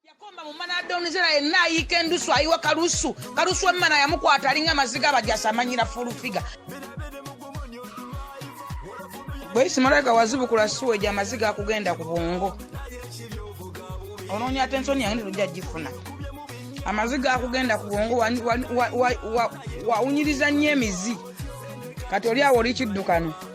yakomba mu mana adonizera yenna ayiika endusu ayiwa kalusu kalusu emmana yamukwata alinga amaziga abajasa amanyira fulufiga bweyisi malaika wazibukula suwa egyo amaziga akugenda ku bwongo onoonya ate ensoni yange ndirujja gifuna amaziga akugenda ku bwongo wawunyiriza nnyo emizi kati oli awo oli kiddukano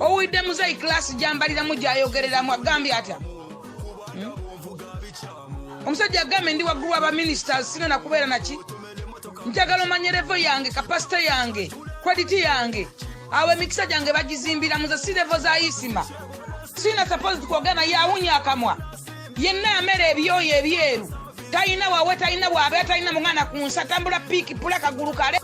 owulidde muzeyi kilasi gyambaliramu gyayogereramu agambye atya hmm? omusajja agambye ndi waggulu wa baministers sina nakubeera naki njagala omanya revo yange kapasite yange krediti yange awo emikisa gyange bagizimbira muze si revo za isima sina sapozi kwogera naye awunya akamwa yenna amera ebyoyo ebyeru talina wawe talina bwabe talina mungana ku nsi atambula piiki pula kagulu kale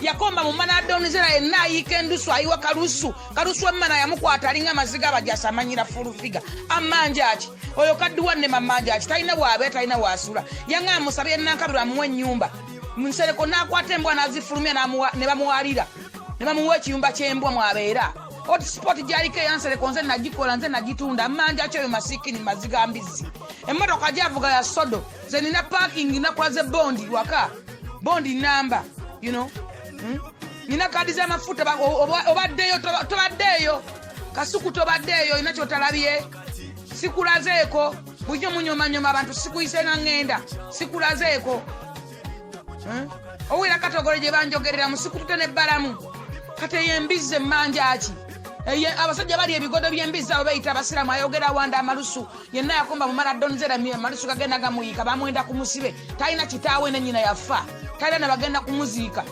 yakomba mu mana adonizera yenna ayiika endusu ayiwa kalusu kalusu emmana yamukwata alinga amaziga abajasi amanyira fulufiga amanjaki oyo kadduwa ne mamanjaki talina waabe talina waasula yanga amusabye nankabirwa amuwa ennyumba nsereko n'akwata embwa n'azifulumya ne bamuwalira ne bamuwa ekiyumba ky'embwa mwabeera hotspot gyaliko eyansereko nze nagikola nze nagitunda manja kyoyo masikini maziga mbizzi emmotoka gyavuga ya sodo nze nina parking nakola ze bondi waka bondi namba you know hmm? nina kadi zamafuta obaddeyo tobaddeeyo kasuku tobaddeeyo olina kyotalabye sikulazeeko bujo munyomanyoma abantu sikuyise nga ŋŋenda sikulazeeko owulira katogolo gye banjogerera musikutute ne balamu kati eyo embizzi emmanjaki eyo abasajja bali ebigodo by'embizzi abo beyita abasiraamu ayogera wanda amalusu yenna yakomba mumala donzera amalusu gagenda gamuyiika bamwenda ku musibe talina kitaawe ne nyina yafa talina ne bagenda kumuziika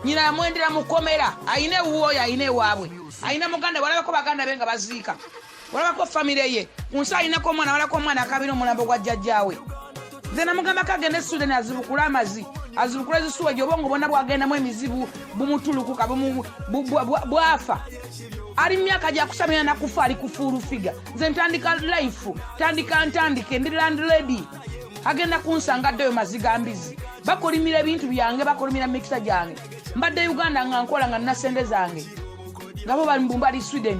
nyina yamwendera mukomera ayina ewuwo oyo ayina ewaabwe ayina muganda walabeko baganda be nga baziika olabako famire ye ku nsi alinako omwana walako omwana akabira omulambo gwa jjajjaawe nze namugambako agende sudan azibukule amazi azibukule zisuwa ejo obongo bona bwagendamu emizibu bumutulukuka bwafa ali mumyaka gyakusamira nakufa ali kufuulu figa nze ntandika life tandika ntandike ndi land lady agenda kunsanga ddeyo maziga mbizi bakolimira ebintu byange bakolimira mikisa gyange mbadde uganda nga nkola nga nasente zange ngabo bali mbumbali sweden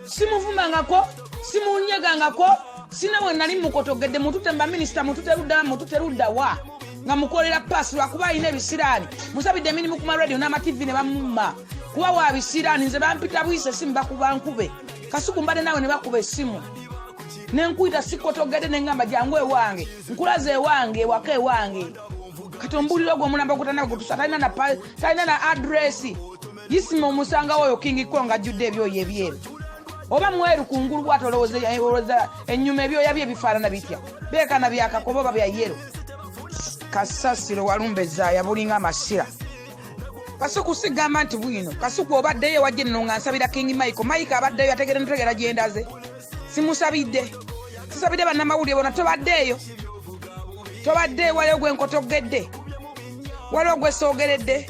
simuvumangako simunyegangako sina we nali mukotogedde mutute mba minisita mutute ludda mutute ludda wa nga mukolera paasi lwakuba alina ebisiraani musabidde emirimu ku maradio n'amativi ne bamumma kuba wa bisiraani nze bampita buyisa esimu bakuba nkube kasuku mbadde naawe ne bakuba esimu ne nkuyita sikotogedde ne ngamba jangu ewange nkulaza ewange ewaka ewange kati ombulira ogwo omulamba ogutanagutusa talina na adresi isima omusanga woyo king kong ajjudde ebyoyo ebyeru oba mweru kungulu bwati olowooza enyuma ebyoya bye bifaanana bitya beekana byakakoba oba bya yero kasasiro walumba ezaaya bulinga amasira kasuku sigamba nti bwino kasuku obaddeyo wajje nno nga nsabira king michael mike abaddeyo ategere ntegera gyendaze simusabidde sisabidde bannamawulire bona tobaddeeyo tobaddeeyo waliwo gwenkotogedde waliwo gwesoogeredde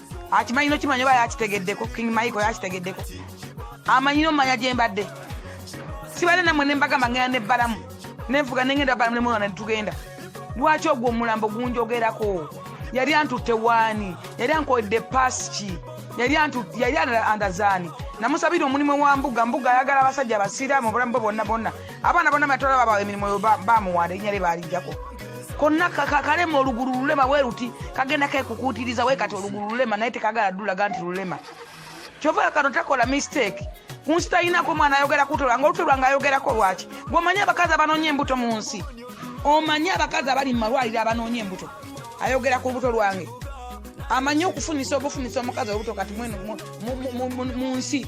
akimanyi nokimanya oba yakitegeddeko king maiko yakitegeddeko amanyi nomanya gyembadde sibadde namwe nembagamba ngenda nebbalamu nenfuga nengenda balamu nemwana netugenda lwaki ogwo omulambo gunjogerako yali antutte waani yali ankoledde pasiki yali andazaani namusabira omulimu wa mbuga mbuga ayagala abasajja abasiraamu obulamu bwe bonna bonna abaana bona batola babawa emirimu oyo bamuwanda erinya lye baalijjako konna kalema olugulu lulema weruti kagenda kekukuutiriza we kati olugulu lulema naye tekagala dulaga nti lulema kyova kano takola mistake kunsi talinako mwana ayogera kutola nga olutolwa nga ayogerako lwaki gweomanyi abakazi abanoonya embuto mu nsi omanyi abakazi abali mu malwaliro abanoonya embuto ayogera ku lubuto lwange amanyi okufunisa obufunisa omukazi olubuto kati mu nsi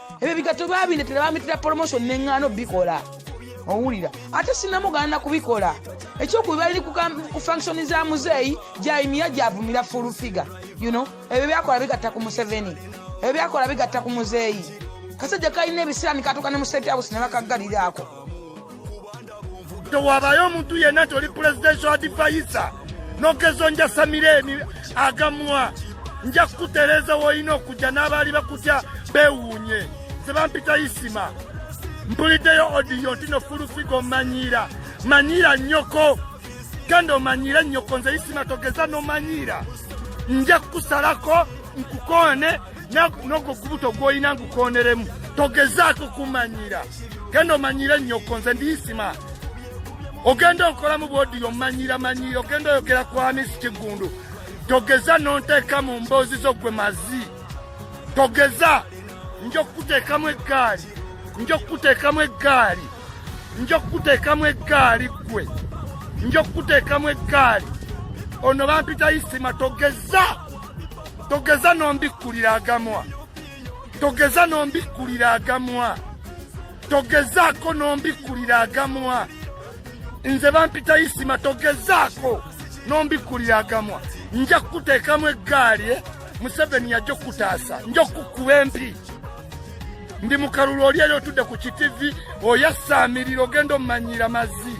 ebyo bigato babindetera bamitira promotion neŋŋaano bikola owulira ate sinamugana kubikola ekyokuba bali ku function za muzeeyi jaimiya gyavumira full figure you know ebyo byakola bigatta ku museveni ebyo byakola bigatta ku muzeeyi kasajja kalina ebisiraani katuka ne mu state house ne bakaggaliraako tewabayo omuntu yenna nti oli presidential advisor nogezo njasamira emi agamwa nja kukutereeza woolina okujja n'abaali bakutya beewuunye sebampita isima mpuliddeyo odiyo nti no fulufiga omanyiira manyiira nnyoko genda omanyiire nnyoko nze isima togeza nomanyiira nja kukusalako nkukoone nogo gubuto gwolina ngukoneremu togezaako kumanyira genda omanyire nyoko nze ndiyisima ogenda okolamu bwodi omanyira manyira ogenda oyogera kwamisi kiggundu togeza nonteeka mu mboozi zo gwe mazi togeza nja okukuteekamu eggaali nja okukuteekamu eggaali nja okukuteekamu eggaali ggwe nja okukuteekamu eggaali ono bampita isima togeza togeza nombikkulira agamwa togeza nombikkulira agamwa togezaako nombikkulira agamwa nze bampita isima togezaako nombikkulira agamwa nja kukuteekamu eggaali eh? museveni yajja okukutaasa nja okukkuba empi ndi mukalulu oli eri otudde ku kitivi oyasaamirira ogenda omumanyiira mazzi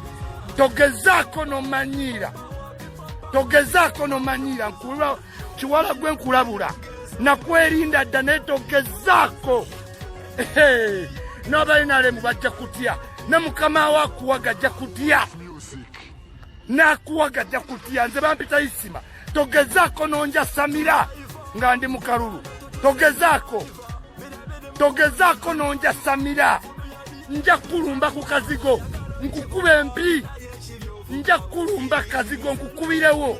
togezaako nomanyiira togezaako nomanyiira nkuba kiwala gwe nkulabula nakwerinda dda netogezaako n'abalinalemu bajja kutya ne mukama wo akuwaga ajja kutya nakuwaga ajja kutya nze bampita isima togezaako nonjasamira nga ndi mukalulu togezaako togezaako nonjasamira nja kukulumba ku kazigo nkukuba empi nja kukulumba kazigo nkukubirewo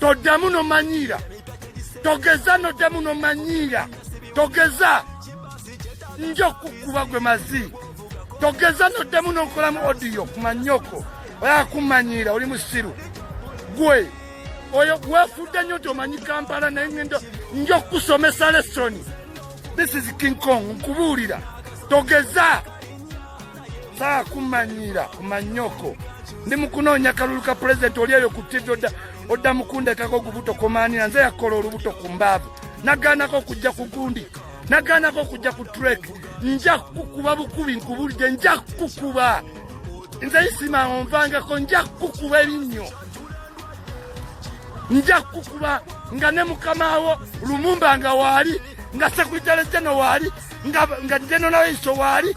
toddamu nomanyiira togeza noddamu nomanyiira togeza nja okukuba gwe mazi togeza noddamu nokolamu odiyo kumanyoko oyakumanyiira oli musiru gwe oyo wefudde nnyo nti omanyi kampala naye ngenda nja okukusomesa lesoni this is king kong nkubuulira togeza saa kumanyira kumanyoko ndi mukunoonya kalulu ka pulezidenti oli eyo ku tivi odda mukundekako ogubuto komaanira nze yakola olubuto ku mbaavu nagaanako okujja ku gundi nagaanako okujja ku trek nja kukuba bukubi nkubulidde nja kukuba nze isima onvangako nja kukuba ebinnyo nja kukuba nga ne mukamawo lumumba nga waali nga sekuritale jeno waali nga jeno nawe iso waali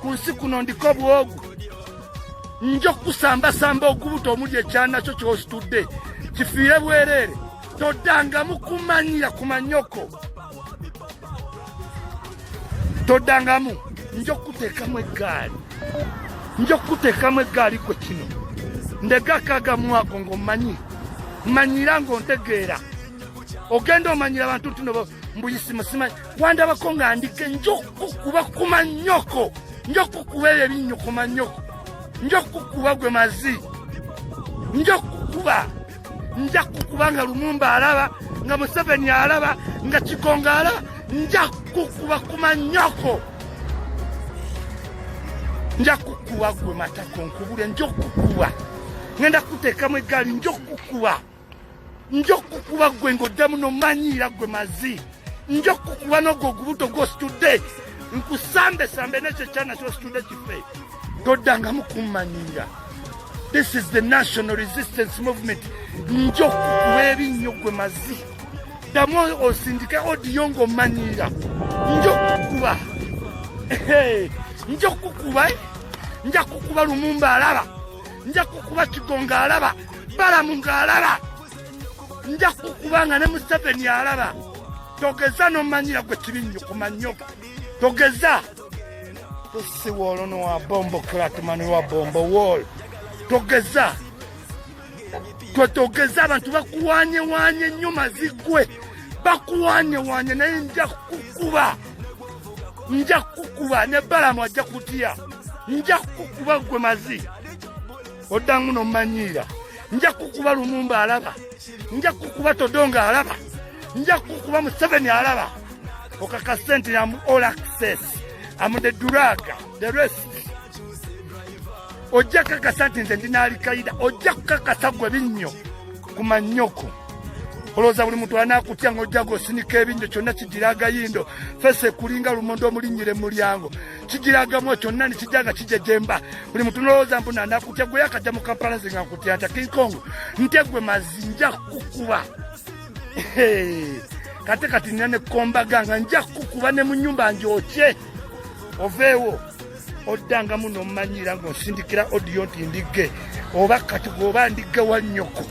ku nsi kuno ndiko bwogu nja okukusambasamba ogubuto omuli ekyana kyo kyositudde kifiire bwereere toddangamu kumanyira ku manyoko toddangamu nja okukuteekamu eggaali nja okukuteekamu eggaali kwe kino ndegakaagamwako ng'omanyi manyira ng'ontegeera ogenda omanyira abantu nti no mbuyisimusimanyi wandabako nga ndike nja okukukuba ku manyoko nja okukukuba ebyo ebinnyo ku manyoko nja okukukuba gwe mazi nja okukukuba nja kukuba nga lumumba alaba nga museveni alaba nga kikonga alaba nja kukuba ku manyoko nja kukuba gwe matako nkubule nja okukuba ngenda kuteekamu eggaali nja okukuba nja okukuba gwe ng'oddamu nomanyiira gwe mazi nja okukuba n'ogwo ogubuto gwositudde nkusambesambe nekyo ekyana kyositudde kife toddangamu kummanyiira this is the national resistance movement nja okukuba ebinnyo gwe mazi ddamu osindike odiyo ng'omanyiira nja okukuba nja okukuba eh? nja kukuba lumumba alaba nja kukuba kigonga alaba balamu ng'alaba nja kukuba nga ne museveni alaba togeza nomanyira gwe kibinnyo ku manyoga togeza si woolo nowa bombo kratmani wa bombo wol togeza twe togeza abantu bakuwanyewanye nnyo mazigwe bakuwanyewanye naye nja kukuba nja kukuba ne balamu ajja kutya nja kukuba gwe mazi oddamu nomanyiira nja kukuba lumumba alaba nja kukuba todonga alaba nja kukuba museveni alaba okaka sente yamu all access am the duraga the rest ojja kakasa nti nze ndi naalikaida ojja kukakasa gwe binnyo ku mannyoko olowooza buli muntu anaakutya ng'ojja gosinika ebinnyo kyonna kigira agayindo fese kulinga lumonde omulinnyire mu mulyango kigiragamu kyonna nekijja nga kijejemba buli muntu nolowooza mbu nanakutya gwe yakajja mu kampala nze nga nkutya nta kinkong ntya gwe mazi nja kukuba kate kati nina nekombaga nga nja kukuba ne mu nyumba njokye oveewo oddangamu nomumanyira ngaosindikira odiyo nti ndigge oba kati gweoba ndigge wa nnyoko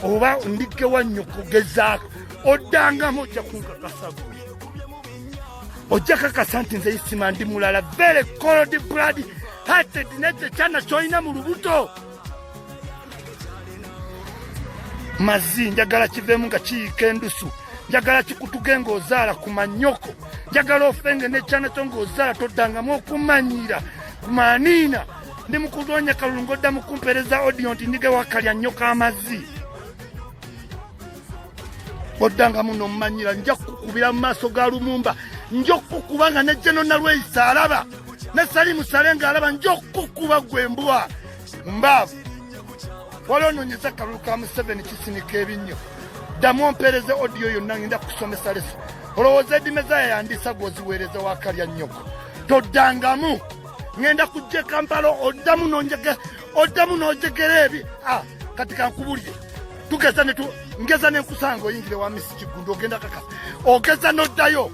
oba ndigge wa nnyoko gezaako oddangamu ojja kunkakasagwe ojja kakasa nti nze isima ndi mulala very cold blood hearted nekyo kyana kyolina mu lubuto mazi njagala kivemu nga kiyika endusu njagala kikutuge ng'ozaala ku manyoko njagala ofenge n'ekyana kyo ng'ozaala toddangamu okumanyira ku maaniina ndi mu kulwanya kalulu ng'odda mu kumpeereza odiyo nti ndige wakalya nnyo k'amazzi oddangamu n'omumanyira nja kukukubira mu maaso ga lumumba nja okukukuba nga ne jeno nalweyisa alaba ne salimu sale nga alaba nja okukukuba gwe mbwa mbaavu wali ononyeza akalulu ka museveni kisinika ebinnyo ddamu ompeereze odiyo yonna ngenda kukusomesa lesa olowooza edimezaya yandiisa gwoziweereza wakalya nnyoko toddangamu ngenda kujja ekampala oddamu nonjege oddamu n'ojegera ebi ah, kati kankubulire tugeza netu ngeza nenkusanga oyingire wa misi kiggundu ogenda kaka ogeza n'oddayo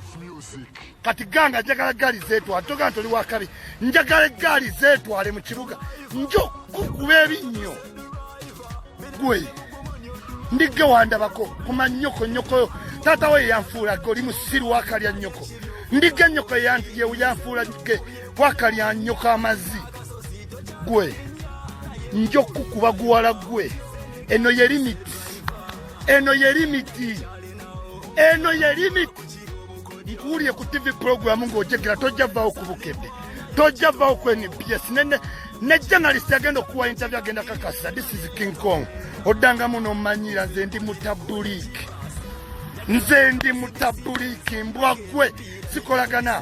kati ganga njagala eggaali zeetwale toga nti oli wakabi njagala eggaali zeetwale mu kibuga njo kukuba ebinnyo gwe ndigge wandabako kuma nnyoko nnyokoyo taata we yeyanfuula ge oli musiru wakalya nnyoko ndigge nnyoko yanfuula ge wakalya nnyoko amazzi gwe nja okukukuba guwala gwe eno ye limiti eno ye limiti eno ye limiti nkuwulire ku tv pulogulamu ng'ojegera tojja vaawo ku bukedde tojja vaawo ku nbs ne journalist agenda okuwa interview agenda kakasa this is king kong oddangamu n'omanyira nze ndi mutabuliiki nze ndi mutabuliiki mbwa gwe sikolagana